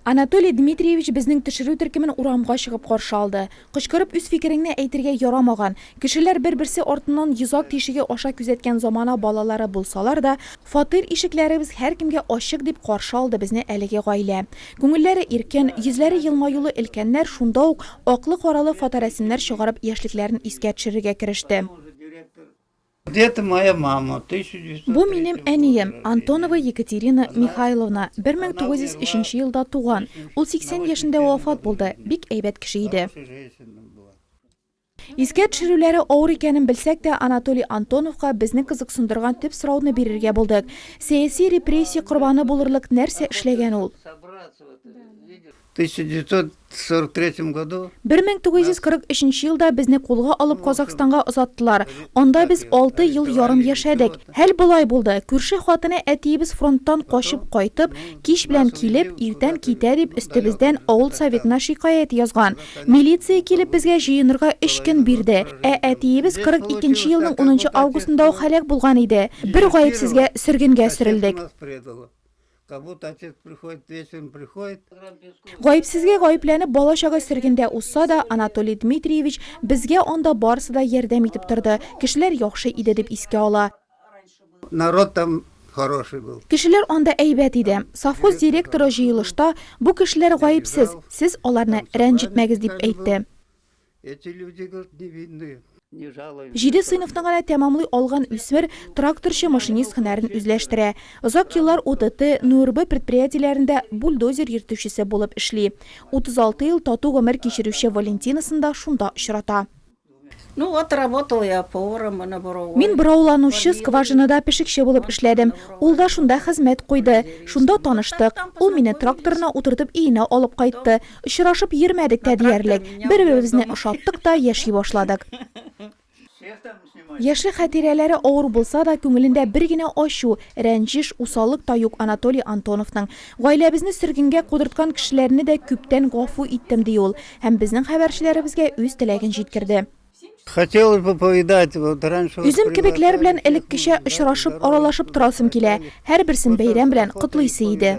Анатолий Дмитриевич безнең төшерү төркемен урамга чыгып каршы алды. Кычкырып үз фикереңне әйтергә ярамаган. Кешеләр бер-берсе артыннан йозак тишеге аша күзәткән замана балалары булсалар да, фатир ишекләребез һәркемгә ачык, дип каршы алды безне әлеге гаилә. Күңелләре иркен, йөзләре елмаюлы өлкәннәр шунда ук аклы-каралы фоторәсемнәр чыгарып яшьлекләрен искә төшерергә кереште. Бу минем әнием, Антонова Екатерина Михайловна, 1903 елда туган. Ул 80 яшендә вафат булды. Бик әйбәт кеше иде. Искә төшерүләре авыр икәнен белсәк тә, Анатолий Антоновка безне кызыксындырган төп сорауны бирергә булдык, сәяси репрессия корбаны булырлык нәрсә эшләгән ул? 1943 нче елда безне кулга алып Казахстанга озаттылар. Анда без алты ел ярым яшәдек. Хәл болай булды, күрше хатыны әтиебез фронттан качып кайтып, кич белән килеп, иртән китә дип өстебездән авыл Советына шикаять язган. Милиция килеп безгә җыенырга өч көн бирде. Ә әтиебез 42 нче елның унынчы августында ук һәлак булган иде. Бер гаепсезгә сөргенгә сөрелдек. Гаепсезгә гаепләнеп, бала-чага сөргендә узса да, Анатолий Дмитриевич безгә анда барысы да ярдәм итеп торды, кешеләр яхшы иде дип искә ала. Народ там хороший был. Кешеләр анда әйбәт иде. Совхоз директоры җыелышта, Бу кешеләр гаепсез, сез аларны рәнҗетмәгез, дип әйтте. Эти люди говорит не видны. Җиде сыйныфны гына тәмамлый алган үсмер тракторчы-машинист һөнәрен үзләштерә. Озак еллар ОТТ, НУРБ предприятиеләрендә бульдозер йөртүчесе булып эшли. 36 ел тату гомер кичерүче Валентинасын да шунда очрата. Мин борауланучы скважинада пешекче булып эшләдем. Ул да шунда хезмәт куйды. Шунда таныштык. Ул мине тракторына утыртып өенә алып кайтты. Очрашып йөрмәдек тә диярлек. Бер-беребезне ошаттык та, яши башладык. Яшьлек хатирәләре авыр булса да, күңелендә бер генә ачу, рәнҗеш, усаллык та юк Анатолий Антоновның. Гаиләбезне сөргенгә кудырткан кешеләрне дә күптән гафу иттем, ди ул һәм безнең хәбәрчеләребезгә үз теләген җиткерде. Үзем кебекләр белән элеккечә очрашып, аралашып торасым килә. Һәрберсен бәйрәм белән котлыйсы иде.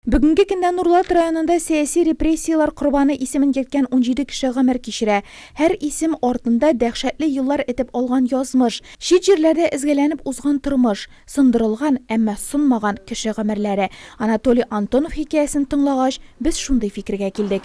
Бүгенге көндә Нурлат районында сәяси репрессияләр корбаны исемен йөрткән унҗиде кеше гомер кичерә. Һәр исем артында дәһшәтле еллар этеп алган язмыш, чит җирләрдә эзгәләнеп узган тормыш, сындырылган, әмма сынмаган кеше гомерләре. Анатолий Антонов хикәясен тыңлагач, без шундый фикергә килдек.